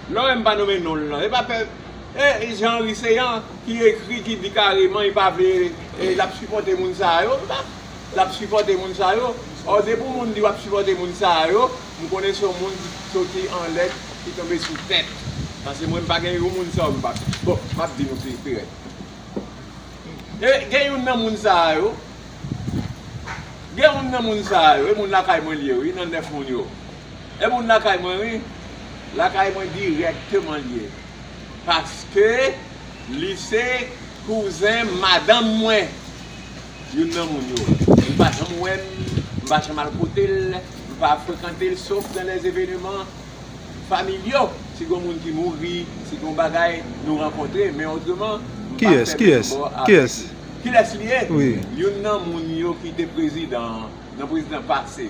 Lorem pa nome non l nan. E pa pè E Jean Henry Céant ki ekri ki di kareman li pa vle l ap sipòte moun sa yo m pa l ap sipòte moun sa yo Ò depi w moun di w ap sipòte moun sa yo m konnen se yon moun ki soti anlè ki tonbe sou tè Pase mwen m pa gen yon moun sa yo m pa Bon m ap di nou pi pi rèd E gen youn nan moun sa yo Gen youn nan moun sa yo E moun lakay mwen l ye wi nan nèf moun yo. E moun lakay mwen wi. Lakay mwen dirèkteman l ye. Paske li se kouzen madanm mwen. Youn nan moun yo. Li pa janm wè m, m pa janm al kote l, m pa frekante l sof dan lè eveneman familyaux. Si gon moun ki mouri, si gon bagay, nou rankontre. Men otreman, m pa fè menm bò avèk li. Kilès li ye? Youn nan moun yo ki te prezidan, nan prezidan pase.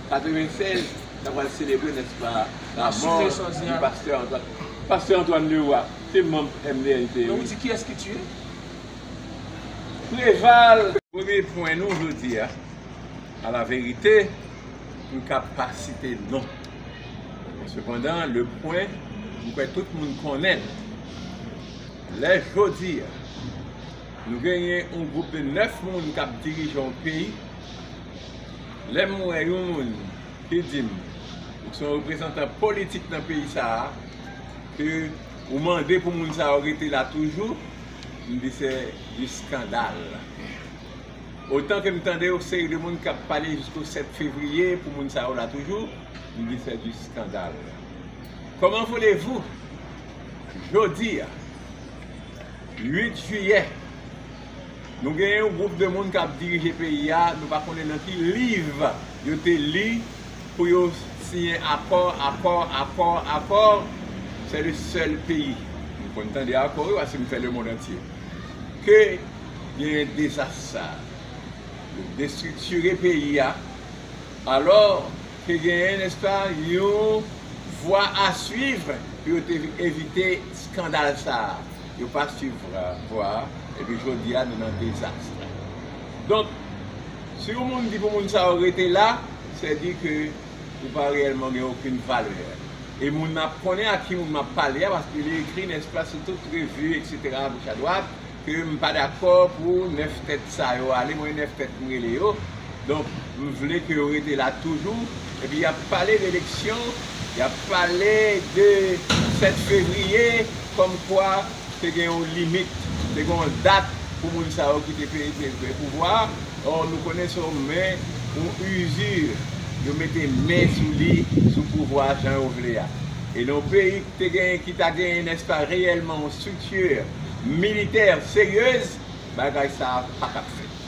96 na pral selebre nèt pa lamò di pastè Antoine Leroy pastè Antoine Leroy se manb MDNP wi men ou di kiyès ki tiye Preval. Premye pwen nou jodi a a la verite m ka pa site non men sepandan le pwen m kwè tout moun konnen l lè jodi a nou genyen yon gwoup de 9 moun k ap dirije yon peyi Lè m wè yon moun ki di m ou se yon reprezantan politik nan peyi sa a, ke ou mande pou moun sa yo rete la toujou, m di se du scandal. Otan ke m tande yon seri de moun k ap pale jisko 7 fevriye pou moun sa yo la toujou, m di se du scandal. Comment voulez-vous jodi a 8 jiyè, Nou gen yon gwoup de moun kap dirije peyi a, nou pa konnen nan ki liv yo te li pou yo siyen akò, akò, akò, akò, se le sèl peyi, m konn tande akò wi paske m fè le mond antye, ke genyen dezas sa, yo destriktire peyi a, alò ke genyen nèspa yon vwa a swiv pou yo te evite skandal sa. yo pa swiv vwa a, epi jodi a nou nan dezas la. Donk, si yon moun di pou moun sa yo rete la, sè di ke ou pa reyèlman gen okenn valè. E moun nan ap konnen ak ki moun m ap pale a, paske li ekri, nèspa, sou tout revi, eksetera, agoch adwat, ke m pa dakò pou nèf tèt sa yo ale, mwen nèf tèt m rele yo, donk m vle ke yo rete la toujou, epi y ap pale de eleksyon, y ap pale de 7 fevriye. Kòmkwa te gen yon limit, te gen yon dat pou moun sa yo ki te peze vrè pouvwa a, ò nou konnen se yon men, yon usure, yo mete men sou li, sou pouvwa a jan yo vle a. E nan yon peyi ki te gen, ki ta genyen nèspa reyèlman yon structure militaire sérieuse, bagay sa a pa tap fèt.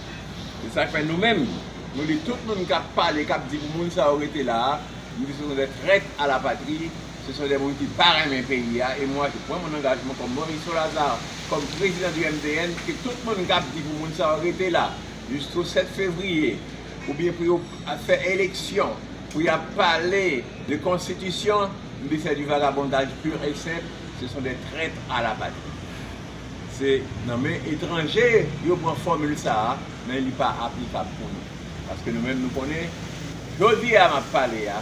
Se sa k fè nou menm, nou di tout moun k ap pale, k ap di pou moun sa yo rete la a, nou di se yon zè trèt a la patri, Se son de moun ki pa renmen peyi a e mwa je pran mon angajman kòm Moriso Lazar, kòm prezidan di MDN ke tout moun kap di pou moun sa yo rete la jisko 7 fevriye ou byen pou yo fè eleksyon pou yap pale de konstitisyon m di se du vagabondaj pur et simple se son de traitre a la patrie se nan men etranje yo pran fòmil sa a men li pa aplikab pou nou paske nou menm nou konnen jodi a map pale a.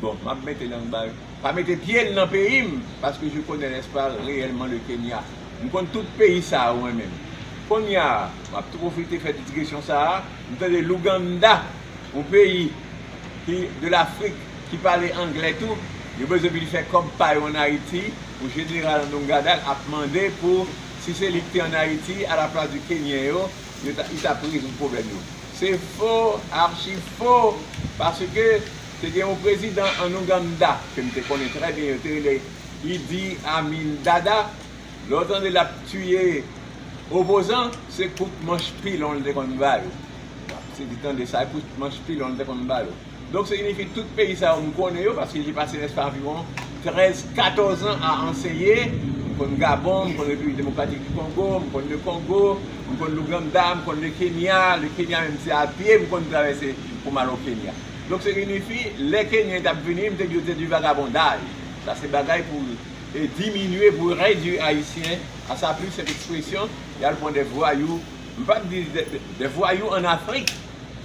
Bon map mete lang bal pa mete pyel nan peyim paske je connais l'espal reyèlman le Kenya m konn tout peyi sa yo mwen menm konnya map tou profite fè digesyon sa m tande l'Ouganda yon peyi ki de l'Afrik ki pale anglè tou yo bezwen vin fè kòb pa yo an Ayiti pou jeneral Anongadal ap mande pou si se li ki te an Ayiti a la plas di Kenyen yo yo ta li tap rezoud pwoblèm yo. Se fo, archi fo! Paske te gen yon prezidan an Ouganda ke m te konnen trè byen yo te rele Idi Amin Dada, lè w tande lap tiye opozan se kout manch pilon li te konn ba yo. Wap tande sa kout manch pilon li te konn ba yo. Donk se inifi tout peyi sa yo m konnen yo paske je pase prèske anviwon 13, 14 an a anseye, m konn Gabon, m konn Repiblik Demokratik di Kongo, m konn Le Kongo, m konn Louganda, m konn Le Kenya, Le Kenya menm se a pye m konn travèse pou m al o Kenya. Donk se inifi lè Kenyen t ap vini m te di yo se du vagabondage, sa se bagay pou diminye, pou redwi Ayisyen a sa pur senp ekspresyon y al pran de vwayou, m p ap di de vwayou an Afrik.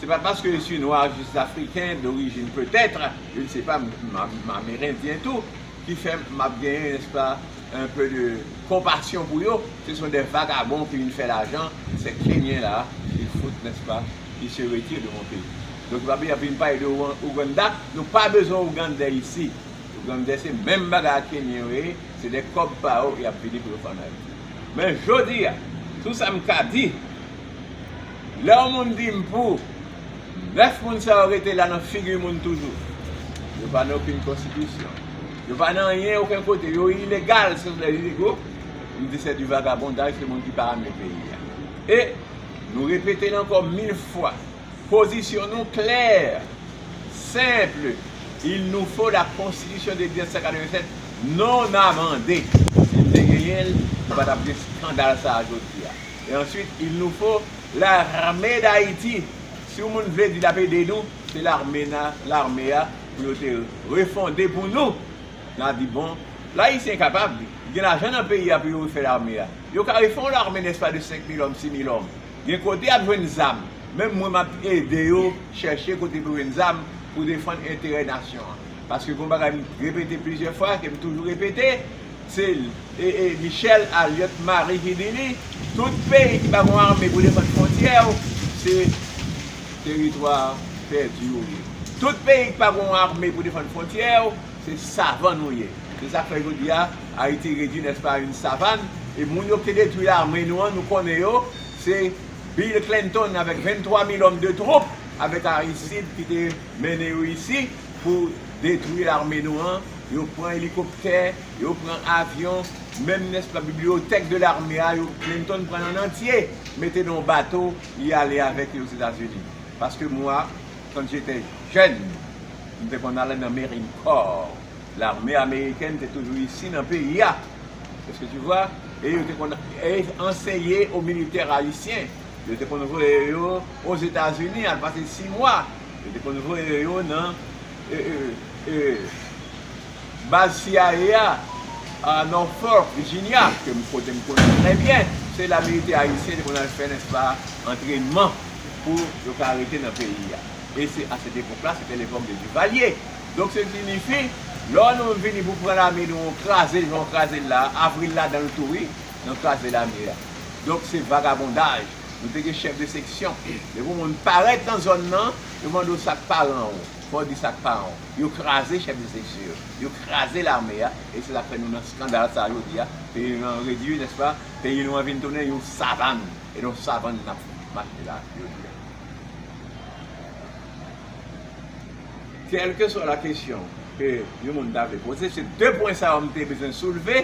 Se pa paske yo si nwa jis afriken dorijin petèt, je ne sais pas, m amerendyen tou, ki fè m ap gen nè s pa un peu de konpasyon pou yo, se son dè vagabon ki vin fè lajan, sè kenyen la ki fout nè s pa ki se retire de mon peyi. Donk yo ap vin pale de Ouganda, nou pa bezwen Ougandè isi. Ougandè se menm bagay ak kenyen yo ye, se dè kòb pa yo y ap vini pou yo fè an Ayiti. Men jodi a, tou sa m ka di. Lè yon moun di m pou, nèf moun sa yo rete la nan figi moun toujou. Yo pa nan okenn konstitisyon. Yo pa nan anyen oken kote. Yo ilegal sof lè Rigo m di sè di vagabondaj se moun ki pa ame peyi a. E nou repete l ankò mil fwa. Pozisyon nou klè, senple, il nous faut la constitution de 1787 non amendée. Si m te genyen l, nou pa t ap gen skandal sa a jodi a. Et ensuite il nous faut l'armée d'Haïti si ou moun vle di lap ede nou se l'armée na l'armée a pou yo te refonde pou nou na di bon l'haïtien kapab li gen lajan nan peyi a pou yo refè l'armée a yo ka refè yon l'armée n'est-ce pas de 5 mil hommes 6 mil hommes gen kote yap jwenn zam menm mwen map ede yo chèche kote pou yo jwenn zam pou defann enterè nasyon an paske gon bagay m repete plizyè fwa kem toujou repete Sil e e Michel Aliot Marie Hidini tout peyi ki pa gon armée pou defann fontyè yo se teritwa pèdi yo ye tout peyi ki pa gon armée pou defann fontyè yo se savann yo ye se sak fè jodia Haïti redwi n'est-ce pas a une savane e moun yo ki te detwi l'armée nou an nou konnen yo se Bill Clinton avèk 23 mil homme de troupe avèk Aristide ki te mennen yo isi pou detwi lame nou an, yo pran elikoptè, yo pran avyon, menm nèspa bibliyotèk de lame a yo Clinton pran l an antye mete nan yon bato li ale avèk li Ozetazini. Paske mwa quand j'étais jeune m te konn ale nan Marine Corps, lame amerikèn te toujou isi nan peyi a est ce que tu vois e yo te konn anseye aux militaires haïtiens, yo te konn voye yo Ozetazini al pase 6 mwa. Yo te konn voye yo nan baz CIA a nan Norfolk, Virginia, kote m konnen trè byen. Se la militè ayisyen te konn al fè, nèspa, antrènman pou yo ka rete nan peyi a. E se a sèt epòk la, sete lepòk de Duvalier. Donk se sinifi, lò nou vini pou pran lame nou an kraze jan yo kraze l la a, Avril ladan l tou wi, nan kraze lame a. Donk se vagabondaj. Nou te gen chèf de seksyon. Depi yon moun parèt nan zòn nan, yo mande w sa k paran w. Fò w di sa k paran w. Yo kraze chèf de seksyon yo. Yo kraze lame a. E se sa k fè nou nan skandal sa a jodi a. Peyi nou an redui, nèspa? Peyi nou an vin tounen yon savann. E nan savann n ap mache la jodi a. Kèlkeswa lakesyon ke yon moun ta vle poze, se de pwen sa yo m te bezwen soulve.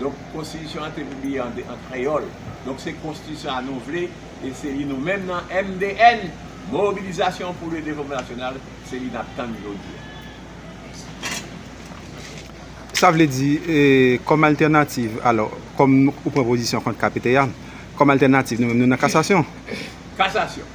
Donk konstitisyon an te pibliye an kreyòl. Donk se konstitisyon a nou vle e se li nou menm nan MDN, Mobilisation pour le Développement National, se li n ap tann jodi a. Sa vle di, kòm altènativ, alò, kòm ou pran pozisyon kont KPT a, kòm altènativ nou menm nou nan kasasyon? Kasasyon.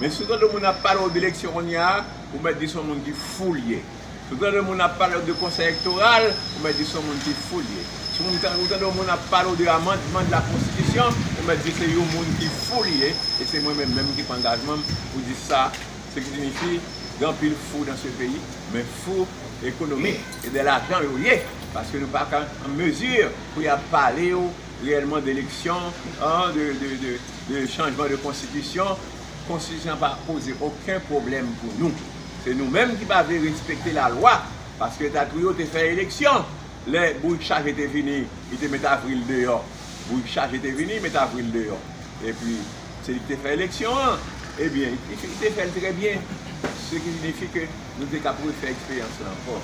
Men si w tande moun ap pale w de eleksyon kounye a, ou mèt di se yon moun ki fou l ye. Si w tande moun ap pale w de konsèy elektoral, ou mèt di se yon moun ki fou l ye. Si w tande yon moun ap pale w de amandman de la konstitisyon, ou mèt di se yon moun ki fou li ye, e se mwen menm menm ki pran angajman m pou di sa, se ki sinifi, gen anpil fou dan se peyi, men fou ekonomik e de lajan yo ye, paske nou pa ka an mezi pou y ap pale w. reyèlman de eleksyon, de chanjman de konstitisyon, konstitisyon an pa poze oken pwoblèm pou nou. Se nou menm ki pa vle respekte lalwa, paske dat wi yo te fè eleksyon, lè bourik chaje te vini, li te met Avril deyò, bourik chaje te vini, li met Avril deyò, epi se li ki te fè eleksyon an, ebyen li te fè l trè byen, se ki signifi ke. Nou te kab refè eksperyans lan ankò.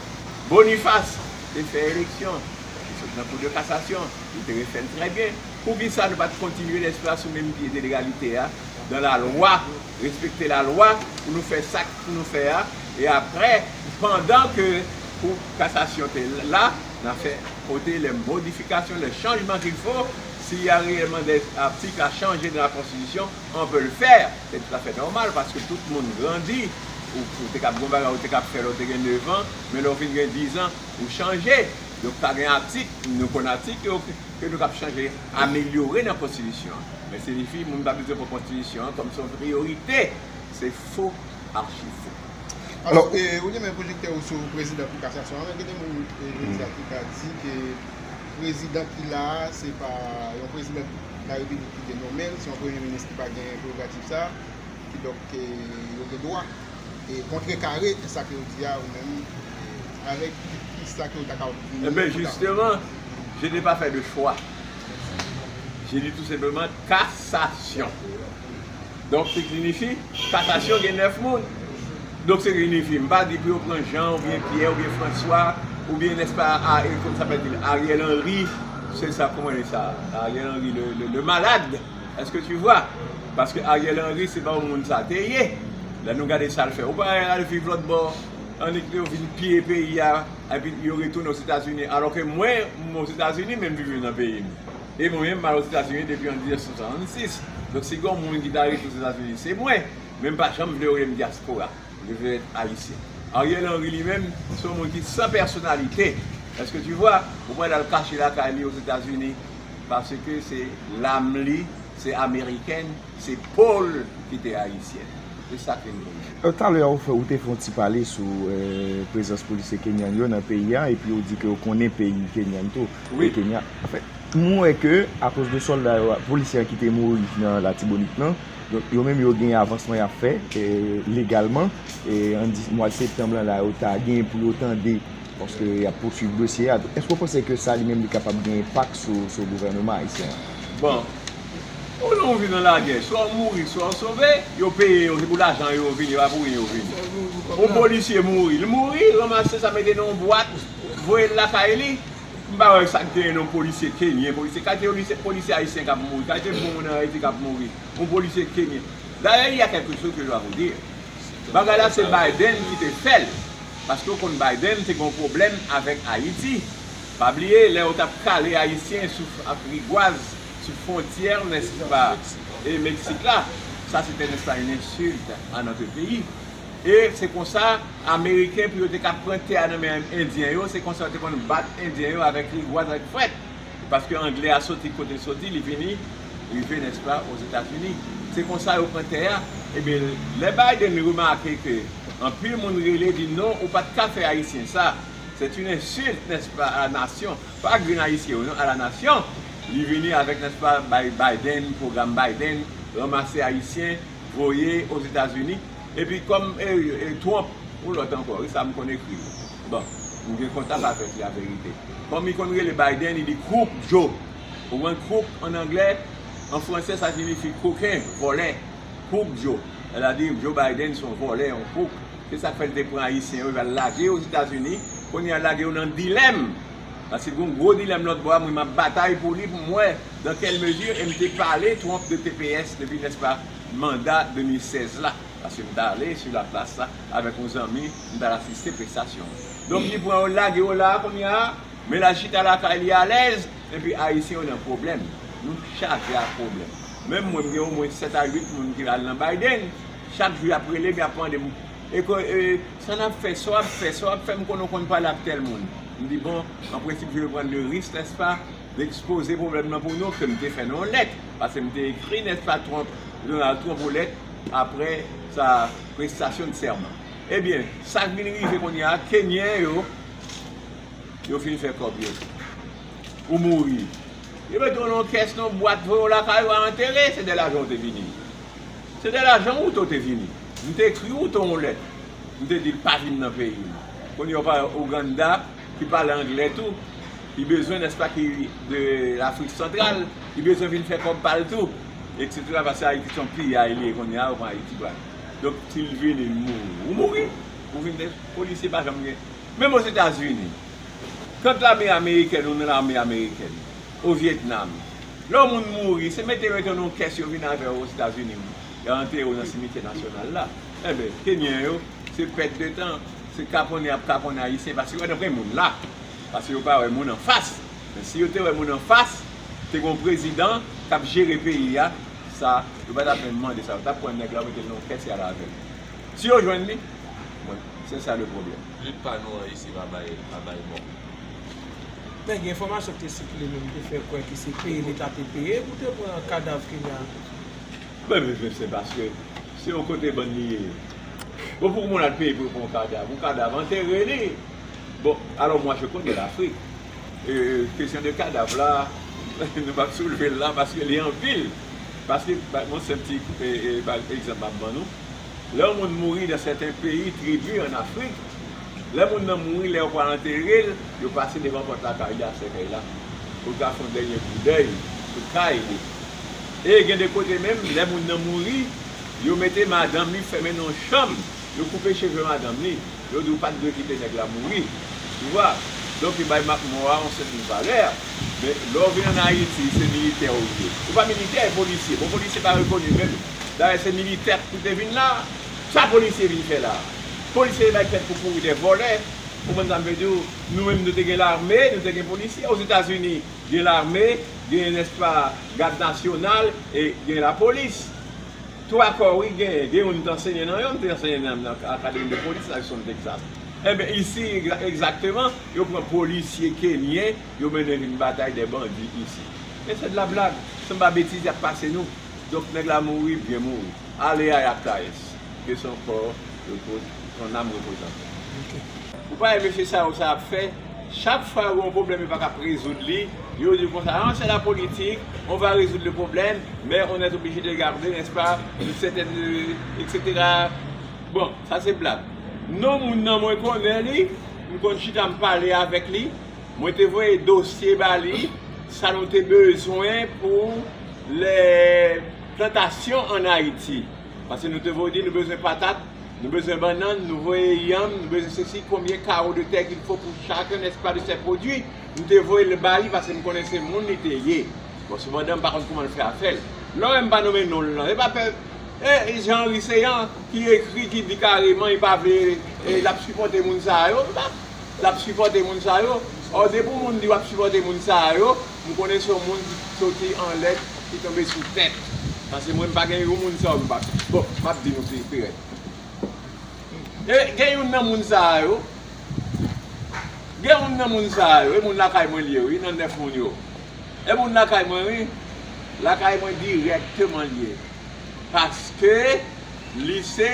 Bonifas te fè eleksyon, li sot nan kou de kasasyon, li te refè l trè byen. Poukisa nou pa t kontinye lespri a sou menm pye de legalite a, dan lalwa, respekte lalwa pou nou fè sa k pou nou fè a, e aprè, pandan ke kou kasasyon te la, n a fè pote lè modifikasyon, lè chanjman kil fo, si y a reyèlman dè atik a chanje nan lakonstitisyon, on peut le faire, se tout afè nòmal paske tout moun grandi, ou te kab gen yon bagay ou te kab fè lè ou te gen 9 ans, men lè ou fin gen 10 ans ou chanje, donk ta gen atik, nou konn atik yo ke nou kab chanje, amelyore nan konstitisyon an, men se difi moun pa bliye pran konstitisyon an kòm se yon priyorite, se fo, achi fo. Alò, ou gen men pwojèktè ou sou prezidan kou kasasyon an, men gen de moun jodi a ki ka di ke. Prezidan ki la a, se pa yon prezidan larepiblik ki te nome l, se yon premye minis ki pa gen prerogativ sa a, kidonk yo gen dwa kontrekare sa ke ou di a ou menm, avèk ki sa ke ou ta kapab vini. E ben jisteman, je n'ai pas fait de choix, j'ai dit tout simplement, kasasyon. Donk se gnifye katasyon gen 9 moun. Donk se gnifye. M pa di pou yo pran Jean ou byen Pierre ou byen François ou byen n'est-ce pas a e kòman sa pral di l Ariel Henry se sa kòman e sa Ariel Henry le malade est-ce que tu vois. Paske Ariel Henry se pa yon moun sa te ye. Lè nou gade sa l fè. Ou pa wè y al viv lòt bò an epi yo vin piye peyi a epi yo retounen Ozetazini alò ke mwen m Ozetazini men m vin viv nan peyi m. e mwen menm m al Ozetazini depi an 1966, donk si gon moun ki ta rete Ozetazini se mwen, men m pa janm vle yo rele m dyaspora, je veux être Haïtien. Ariel Henry li menm se yon moun ki san pèsonalite, est-ce que tu vois, ou pral al kache lakay li Ozetazini paske se lam li se amerikèn, se po l ki te ayisyèn. Se sa k vin pou mwen. Talè a ou te fè yon ti pale sou prezans polisye kenyan yo nan peyi a epi ou di ke ou konnen peyi kenyan tou. wi. Kenya fè moun wè ke akoz de solda yo ak polisye an ki te mouri nan latibonit lan donk yo menm yo gen avansman yap fè legalman an di mwad septanb lan la yo ta gen pou yo tande paske yap pouswiv dosye a donk èske ou panse ke sa li menm li kapab gen enpak sou gouvèneman ayisyen an? Bon ou lè ou viv nan lagè swa ou mouri swa ou sove yo peye yo se pou lajan yo vini se pa pou rin yo vini yon polisye mouri li mouri ranmase sa mete nan yon bwat voye l lakay li. M pa wè sa k genyen yon polisye kenyen, polisye kalite yo di se polisye ayisyen k ap mouri, kalite bon moun an Ayiti k ap mouri, yon polisye kenyen. Dayè il y a quelque chose que je dois vous dire, bagay la se Biden ki te fè l, paske ou konn Biden te gen yon pwoblèm avèk Ayiti, pa bliye lè yo t ap kale ayisyen sou ak rigwaz sou fwontyè nèsn pa e Meksik la, sa se tè nèsn pa une insulte à notre pays e se konsa. Ameriken pou yo te ka pran tè a nan men Endyen yo, se konsa yo te konn bat Endyen yo avèk rigwaz, avèk frèt. Paske Angle a soti kote l soti, li vini rive, nèspa, Ozetazini. Se konsa yo pran tè a. Ebyen, lè Biden remake ke anpil moun rele di non ou pat ka fè Ayisyen sa, c'est une insulte, nèspa, à la nation, pa grenn Ayisyen yo non, à la nation, li vini avèk, nèspa, bay Biden, pwogram Biden, ranmase Ayisyen, voye Ozetazini. Epi kòm e Trump ou lòt ankò wi sa m konn ekri l bon m gen kontak avèk li averite kòm li konn rele Biden li di Crook Joe ou konprann Crook an anglè an fransè sa sinifi koken vòlè Crook Joe sètadi Joe Biden son vòlè yon Crook se sa k fè l te pran ayisyen yo l al lage yo ozetazini kounye a l lage yo nan dilèm paske gon gwo dilèm lòtbò a mwen m ap batay pou li pou m wè dan kèl mezi e m te pale Trump de tps depi nèspa. manda 2016 la paske m t ale sou la plas la avèk yon zanmi m t al asiste prestasyon an donk li pran yo l lage yo la a kounya men l al chita lakay li alèz epi ayisyen yo nan pwoblèm nou chaje ak pwoblèm menm mwen m gen omwen 7 a 8 moun ki al nan Biden chak jou y ap rele m y ap mande m e ko e sa n ap fè sa w ap fè sa w ap fè m konnen w konn pale ak tèl moun m di bon an prensip je ve pran le risk nèspa M ekspoze pwoblèm lan pou nou ke m te fè nan yon lèt, pase m te ekri Nèspa Twonp, Donald Twonp yon lèt apre sa prestasyon de sèman. Ebyen, sa k vin rive kounye a, Kenyen yo, yo fin fè kòb yo, ou mouri. Yo mete w nan yon kès, nan yon bwat, voye w lakay ou a antere, se de lajan ou te vini. Se de lajan Wouto te vini. M te ekri Wouto yon lèt, m te di l pa vin nan peyi m. Kounye a ou pa wè Ouganda. ki pale anglè tou, li bezwen nèspa ki de lafrik santral, li bezwen vin fè kòb pal tou etc paske ayiti son piyay li ye konnya ou pran ayiti pou al donk sil vini li mouri ou mouri ou vin de polisye pa janm gen menm ozetazini kant lame amerikèn ou nan lame amerikèn o vietnam lè yon moun mouri se mete yo nan yon kès yo vin avè yo ozetazini wi yo antere yo nan simityè nasyonal la enben kenyen yo se pèt de tan. Se kaponnen ap kaponnen ayisyen paske yo daprè moun la paske yo pa wè moun anfas men si yo te wè moun anfas te gon prezidan kap jere peyi a sa yo patap menm mande sa yo tap pran nèg la yo metel nan yon kès yal avèl si yo jwenn li bon se sa le pwoblèm. Lit pa nou an isi pa bay pa bay mò. Men gen enfòmasyon ki te sikile menm ki te fè kwè ki se peye leta te peye pou te pran kadav kenya. Mwen bezwen se paske se yon kote bann li ye bon pou moun al peye pou yo pran yon kadav yon kadav antere li bon alò mwa je konnè lafrik kesyon de kadav la nou pap soulvel la paske li anpil paske yon senp ti egzanp map ban nou lè yon moun mouri nan sèten peyi tribi an afrik Lè moun nan mouri, lè yo pral antere l, yo pase devan pòt lakay li ak sèkèy la pou l ka fè yon dènye koudèy sou kay li. E gen de kote menm, lè moun nan mouri, yo mete madanm li fèmen nan yon chanm, yo koupe cheve madanm li, yo di ou pa t dwe kite nèg la mouri. Ou wè? Donk yo bay mò a yon sèten valè. Men, lè w vin ann Ayiti, se militè ou ye. Ou pa militè, e polisye. Bon, polisye pa rekoni menm. Dayè, se militè ki te vin la a. Sa polisye vin fè la a? Polisye bay tèt pou kouri dè vòlè, ou konprann sa m vle di w, nou menm nou te gen lame, nou te gen polisye, ozetazini gen lame, gen nèspa gad nasyonal e gen lapolis. 3 kò wi gen, gen youn m t ansenye nan yo, m te ansenye nan akademi de polis la Houston Texas. Enben isi egzakteman, yo pran polisye kenyen, yo mennen vin batay dè bandi isi. Men sè de la blag, se m pa betize ap pase nou. Donk nèg la mouri, byen mouri. Ale a yap tayes. Ke son kò repo son nam repose an pè. Ok. Ou pa wè mesye sa yo sa yap fè chak fwa yo gen yon pwoblèm yo paka rezoud li yo di konsa an sè la politik on va rezoud le pwoblèm mè on èt oblije de garde nès pa yn sètèn etc bon sa se blag non moun nan mwen konnen li m konn chita m pale avèk li mwen te voye dosye ba li sa nou te bezwen pou lè. Plantasyon an Ayiti. Pase nou te voye di nou bezwen patat, nou bezwen bannann, nou voye yanm, nou bezwen sesi, konbyen karo de tè ki fo pou chak nès pa de sè pwodui, nou te voye l ba li pase m konnen se moun li te ye. Bon, sepandan m pa konn kouman l fè afè l. Lò wè m pa nonmen non l lan, se pa pè e Jean Henry Céant ki ekri, ki di kareman li pa vle, l ap sipòte moun sa yo. M pa, l ap sipòte moun sa yo. Ò depi w moun di w ap sipòte moun sa yo. M konnen se yon moun ki soti an lè ki tonbe sou tè. Pase mwen m pa gen yon moun sa yo m pa konn. Bon, m ap di nou pi rèd. Gen youn nan moun sa yo, gen youn nan moun sa yo, e moun lakay mwen li ye wi, nan nèf moun yo. E moun lakay mwen wi, lakay mwen dirèkteman li ye. Paske li se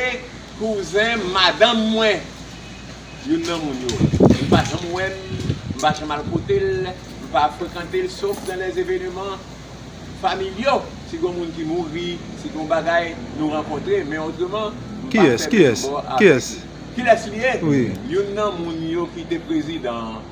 kouzen madanm mwen. Youn nan moun yo. Ou pa janm wè l, m pa janm al kote l, m pa frekante l sof dan lè eveneman familyo, si gen yon moun ki mouri, si gen yon bagay, nou rankontre, men otreman, m pa fè menm bò avèk li. Kilès li ye? Youn nan moun yo ki te prezidan.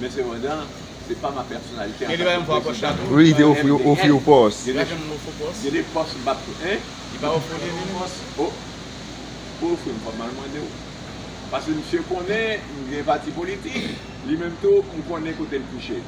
Men sepandan, se pa ma pèsonalite antanke prezidan ke MDH gen. Gen de pòs m pa ofri pòs. Gen de pòs m pa ofri. Hein? Li pa ofri w li menm? O! Pou ofri m fò m al mande w. Paske misye konnen m gen pati politik, li menm tou m konnen kote l kouche.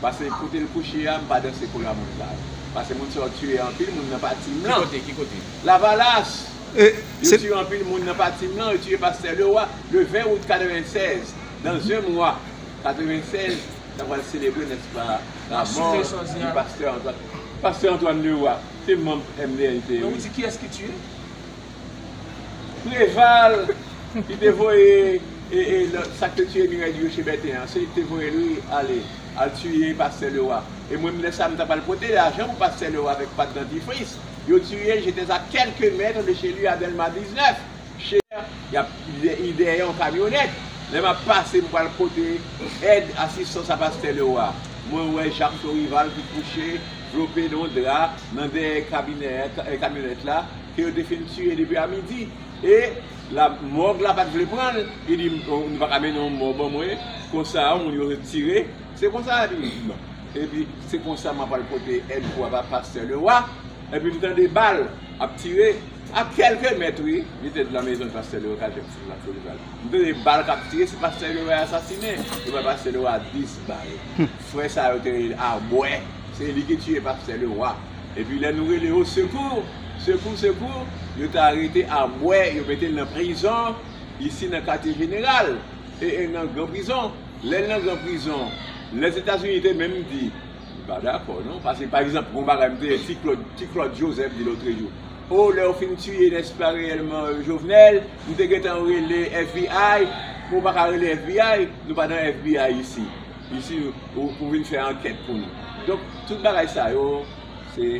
Pase kote l kouche a m pa danse kou la moun sa yo. Pase moun sa yo tiye anpil moun nan pati m lan. Ki kote? Ki kote? Lavalas! Yo tiye anpil moun nan pati m lan, yo tiye pastè Leroy le 20 out 96. Nan zen mwa 96, ta pral selebre, nèt pa, lamò di Pastè Antwàn. Pastè Antwàn Lewa, se manb MDNT wi. Men ou di kiyès ki tiye? Preval ki te voye sa k te tiye Mirèy di Roche Bèten an, se li k te voye l wi ale, al tiye Pastè Lewa. E mwen menm lè sa m ta pral pote lajan pou Pastè Lewa avèk Pat Dantifris. Yo tiye, j'étais à quelques mètres de chez lui à Dèlma 19. Chè yap dèyè yon kamyonèt lè map pase m pral pote èd asistans a pastè Lewa mwen wè Jacques Chaurival ki kouche vlope nan yon dra nan dèyè kamyonèt la ke yo te fin tiye depi a midi e la mòg la pat vle pranl li di nou paka mennen yon mò ban mwen konsa moun yo retire se konsa li di epi se konsa mwen pral pote èd pou pastè Lewa. epi m tande bal ap tire a kèlke mèt wi, li te di la mezon pastè Leoka jèm sou blak Bolivar m tande bal kap tire se pastè yo vle asasine yo bay pastè Lewa 10 bal frè sa yo te rele Arbwè se li ki tiye pastè Lewa epi lè nou rele o sekou sekou sekou yo te arete Arbwè yo mete l nan prizon isi nan katye jeneral e e nan gran prizon lè l nan gran prizon Lèzetazini te menm di. M pa dakò non, pase pa egzanp gon bagay m te ti klod ti klod jozèf di lotrejou oh lèw fin tiye nèse pa reyèlman jovenel m te gentan rele fbi men w paka rele fbi nou pa nan fbi isi isi ou vin fè ankèt pou nou donk tout bagay sa yo se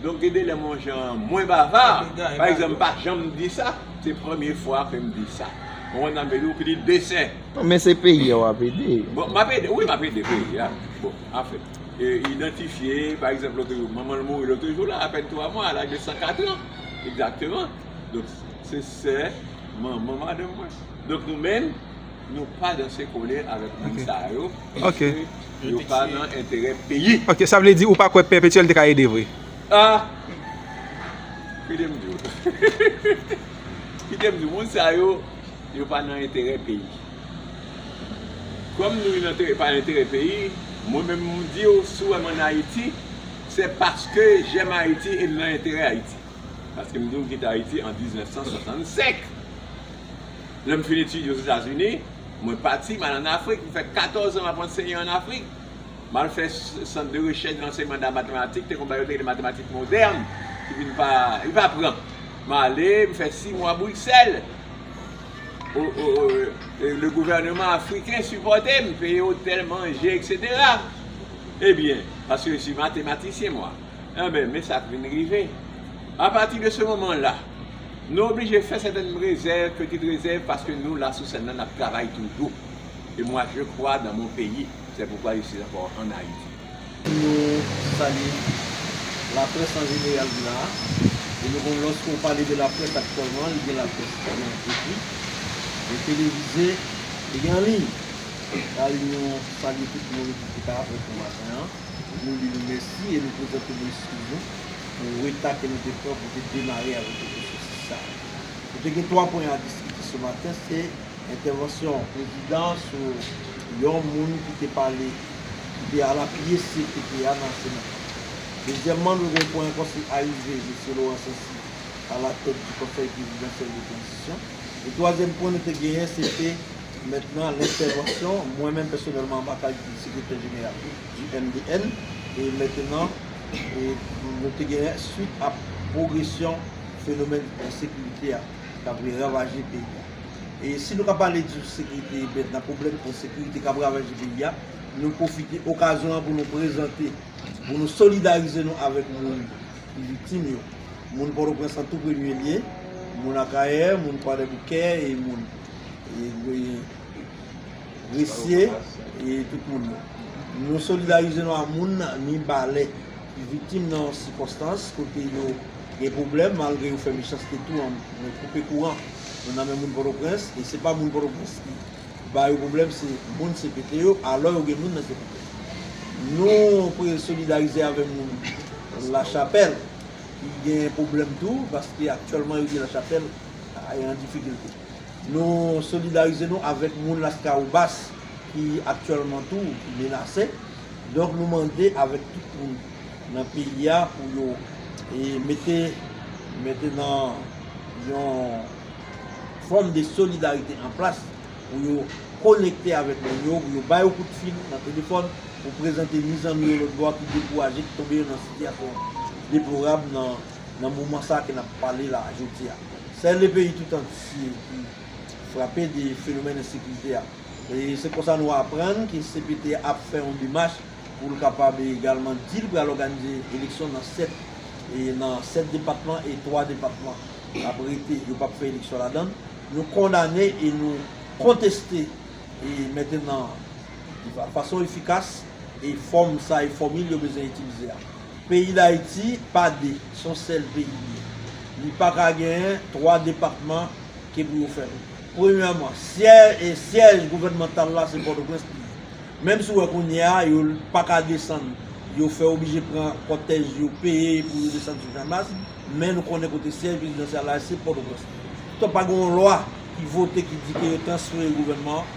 Donk gen de lè m on jan mwen bava, pa egzanp m pa janm di sa, se premye fwa ke m di sa. Ou konprann sa m vle di ou, ki di desen. Non men se peyi a w ap ede. Bon m ap ede, wi m ap ede peyi a. Bon anfen, idantifye pa egzanp lòt jou, manman l mouri lòt jou la, apèn 3 mwa, a laj de 104 an, egzakteman. Donk se sè manman madanm mwen. Donk nou menm. Nou pa danse kole avèk moun sa yo piske yo pa nan enterè peyi. Ok sa vle di ou pa kwè pèpetyèl te ka ede vre. Ah kite m di w kite m di w moun sa yo yo pa nan enterè peyi kòm nou nan pa enterè peyi mwen menm m di w si w wè m an Ayiti se paske jèm Ayiti e m nan enterè Ayiti paske m di w m kite Ayiti an 1965. Lè m fin etidye Ozetazini, mwen pati, m al ann Afrik. M fè katòz an m ap anseye ann Afrik. M al fè sant de rechèch lanseyman da matematik, te konn ba yo te rele matematik modèn, ki vin pa, li pa pran. M ale, m fè si mwa Briksèl. O, o, o, le gouvèneman afriken sipòte m, peye otèl, manje, eksetera. Ebyen, paske si matematisyen mwa. Enben, men sa k vin rive. Apati de se moman la, nou oblije fè sètèn rezèv, peti rezèv, paske nou la sou sèn nan, n ap travay toujou. E mwa je kwa dan mon peyi, sè poukwa je si ankò ann Ayiti. Nou salye laprès an jeneral la a. E nou konnen lòske ou pale de laprès aktyèlman, li gen laprès ki gen ekri, gen televize, e gen anliy. Anliy nou salye tout moun ki te ka ap reponn maten an. Nou di nou mèsi e nou prezante nou eskiz nou pou reta ke nou te pran pou te demare avèk yo pwosesis sa a. Nou te gen 3 pwen a diskite se maten, se entèvansyon Prezidan an sou yon moun ki te pale, ki te al apiye cpt a nan Sena. Dezyèmman, nou gen pwen ankò se arive Mesye Laurent Sancy a la tèt di Konsèy Prezidansyèl de Tranzisyon. E twazyèm pwen nou te genyen se te. Mèt nan lentèvansyon, mwen menm pèsonèlman anba kalite de sekretè jeneral di MDN, e mèt nan nou te genyen swit a pwogresyon fenomèn ensekirite a k ap ravaje peyi a. E si nou ka pale di sekirite mèt nan pwoblèm ensekirite k ap ravaje peyi a, nou pwofite okazyon an pou nou prezante, pou nou solidarize nou avèk moun ki viktim yo, moun Pòtoprens an tou premye lye, moun Akayè, moun Kwadèboukè e moun. gresye e tout moun yo. Nou solidarize nou a moun ni balè ki viktim nan yon sikonstans kote yo gen pwoblèm malgre yo fè mechanste tou an mwen koupe kouran nou nan men moun pòtoprens e se pa moun pòtoprens ki ba yo pwoblèm se moun cpt yo alò yo gen moun nan cpt nou pre solidarize avè moun lachapèl ki gen pwoblèm tou paske aktyèlman yo gen lachapèl an difikilte. Nou solidarize nou avèk moun Laskawobas ki aktyèlman tou menase. Donk nou mande avèk tout moun nan peyi a pou yo mete mete nan yon fòm de solidarite an plas pou yo konekte avèk moun yo, pou yo ba yo kout fil nan telefòn pou prezante ni zanmi yo lòtbò a ki dekouraje, ki tonbe yo nan sitiyasyon deplorab nan. Nan moman sa ke nap pale la a jodi a, sè le peyi tout antye ki frape de fenomèn ensekirite a. E se konsa nou aprann ke cpt ap fè yon demach pou l kapab egalman di l pral òganize eleksyon nan 7 e nan 7 depatman e 3 depatman ap rete yo pap fè eleksyon ladan l. Nou kondane e nou konteste e mentenan fason efikas e fòm sa e fòmil yo bezwen itilize a. Peyi Dayiti pa 2, son sèl peyi li ye. Li pa ka genyen 3 depatman ke pou yo fè rout. Premyèman, syèj gouvènmantal la se Pòtoprens li ye. Menm si ou wè kounye a yo pa ka desann, yo fè oblije pran kòtèj yo peye pou yo desann sou Janmas, men nou konnen kote syèj prezidansyal la se Pòtoprens li ye. Donk pa gen yon lwa ki vote ki di ke yo transfere gouvènman an.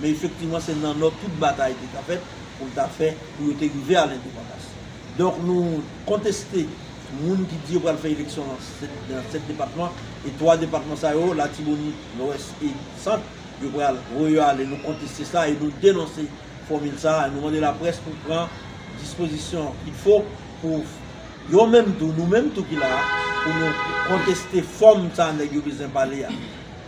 Men efektivman se nan Nò tout batay te ka fèt pou l ta fè pou yo te rive a lendepandans. Donk nou konteste moun ki di yo pral fè eleksyon lan nan 7 depatman e 3 depatman sa yo, Latibonit, Lwès e Sant, yo pral voye yo ale. Nou konteste sa e nou denonse fòmil sa a. Nou mande laprès pou pran dispozisyon kit fo pou yo menm tou, nou menm tou ki la a, pou nou konteste fòm sa nèg yo bezwen pale a.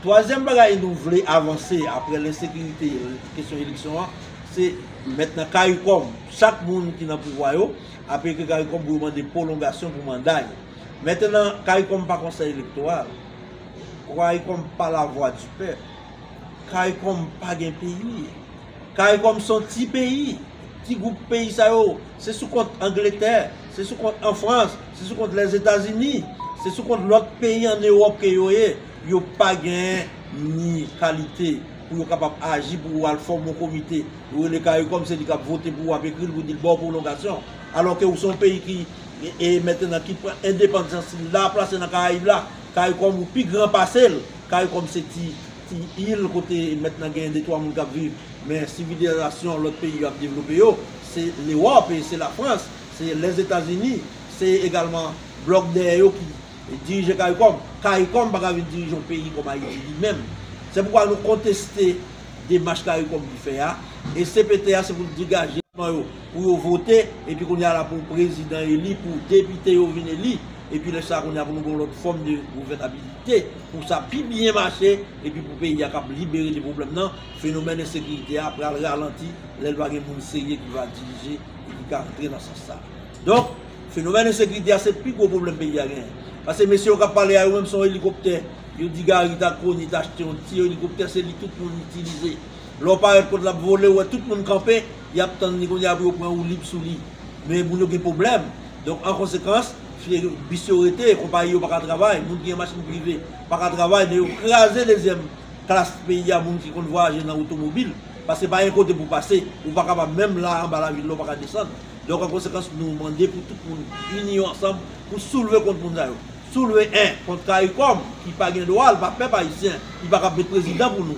Twazyèm bagay nou vle avanse apre lensekirite kesyon eleksyon an se mèt nan caricom chak moun ki nan pouvwa yo ap ekri caricom pou yo mande pwolongasyon pou manda yo mètenan caricom pa konsèy elektoral caricom pa lavwa di pèp caricom pa gen peyi caricom son ti peyi ti gwoup peyi sa yo se sou kont angletè se sou kont anfrans se sou kont lèzetazini se sou kont lòt peyi an ewòp ke yo ye. Yo pa gen ni kalite pou yo kapab aji pou ou al fòm yon komite. Ou rele caricom se li kap vote pou ou ap ekri l pou di l ba w pwolongasyon. Alò ke ou se yon peyi ki e mentenan ki pran endepanzans li la plase nan karayib la. Caricom ou pi gran pase l. Caricom se ti ti il kote mentenan gen de twa moun kap viv. Men sivilizasyon lòt peyi yo ap devlope yo se lewòp e se lafrans se lèzetazini se egalman blòk dèyè yo ki Dirije caricom, caricom pa ka vin dirije yon peyi kòm Ayiti li menm. Se poukwa nou konteste demach caricom vin fè a, e cpt a se pou l degaje nan yo pou yo vote, epi kounye a la pou prezidan eli, pou depite yo vin eli, epi lè sa a kounye a pou nou gen yon lòt fòm de gouvènabilite pou sa pi byen mache, epi pou peyi a kab libere de pwoblèm nan, fenomèn ensekirite a pral ralanti lè l va gen moun serye ki va dirije e ki ka antre nan sans sa. Donk, fenomèn ensekirite a se pi gwo pwoblèm peyi a genyen. Pase mesye yo k ap pale a yo menm se yon elikoptè yo di Gary t al koni t achte yon ti elikoptè se li tout moun itilize. Lè w parèt kont l ap vole ou wè tout moun kanpe y ap tann li kounye a pou yo pran woulib sou li. Men moun yo gen pwoblèm. Donk an konsekans, bis yo rete, konpayi yo pa ka travay, moun ki gen machin prive pa ka travay men yo kraze dezyèm klas peyi a moun ki konn vwayaje nan otomobil. Pase pa gen kote pou w pase, ou pa kapab menm la anba lavil la ou pa ka desann. Donk an konsekans nou mande pou tout moun ini yo ansanm pou soulve kont moun sa yo. Soulve 1 kont caricom ki pa gen dwa, l pa pèp ayisyen, li pa kab met prezidan pou nou.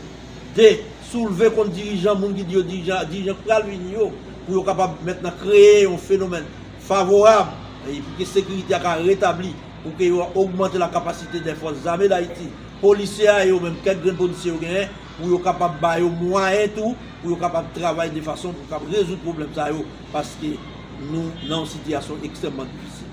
2, soulve kont dirijan moun ki di yo dirijan, dirijan k pral vini yo, pou yo kapab mentnan kreye yon fenomèn favorab e pou ke sekirite a ka retabli, pou ke yo ogmante la kapasite dè fòs zame dayiti, polisye a e yo menm kèk grenn polisye yo genyen, pou yo kapab ba yo mwayen tou pou yo kapab travay de fason pou yo kapab rezoud pwoblèm sa yo paske nou nan yon sitiyasyon ekstrèmman difisil.